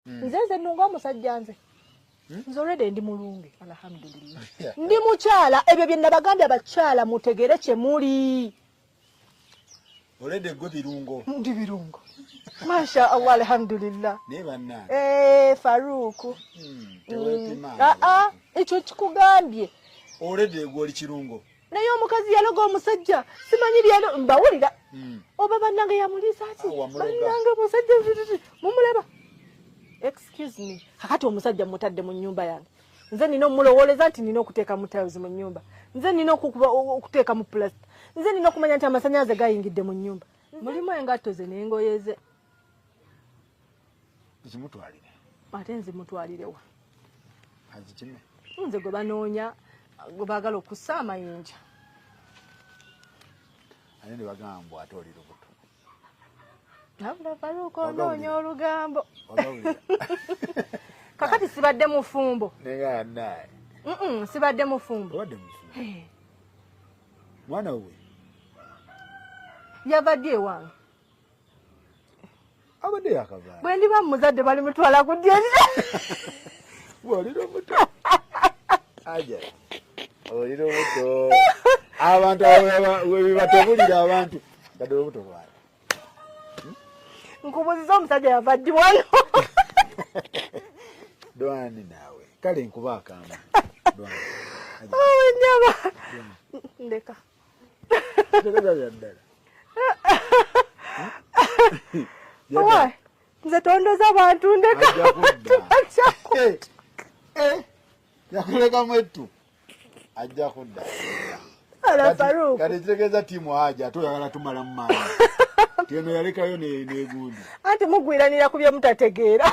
hmm. nze nze nunga omusajja nze hmm? nze olwede ndi mulungi alhamdulillah ndi mukyala ebyo bye nabagambye abakyala mutegere kye muli olwede gwe birungo ndi birungo masha allah alhamdulillah naye bannange eh, faruuku hmm, aa ah, ah, ekyo kikugambye olwede gwe oli kirungo naye omukazi yaloga omusajja simanyi byalo mbawulira hmm. oba bannange yamuliisa ki ah, bannange omusajja mumulaba excuse me kakati omusajja mutadde mu nyumba yange nze nina omulowoleza nti nina okuteeka mu tiles mu nyumba nze nina okuteeka mu pulasta nze nina okumanya nti amasanyalaze gayingidde mu nyumba mulimu engatto ze nengoyeze zimutwalire ate nzimutwalirewa azikime nze gwe banoonya gwe baagala okussa amayinja ate ne bagamba mbu ate oli lubuto nabula faruuka onoonya olugambo kakati sibadde mufumbo neyanaye sibadde mufumbo obadde mufumbo mwana we yavadde ewange abadde yakavaala bwe ndiba muzadde bali mutwala ku dyeri olira omuto aja olira omuto abantu webibatebulira abantu gadde olubuto lwali hmm? nkubuziza omusajja yava ddi wano dwani naawe kale nkuba akamba dwani oh, ndeka nze tondoza abantu ndekayakulekamu eh, eh, ettu ajja kudda kati kitegeeza tiimu haja ate oyagala tumalamu maani teno yalekayo negundi anti mugwiranira ku byemutategeera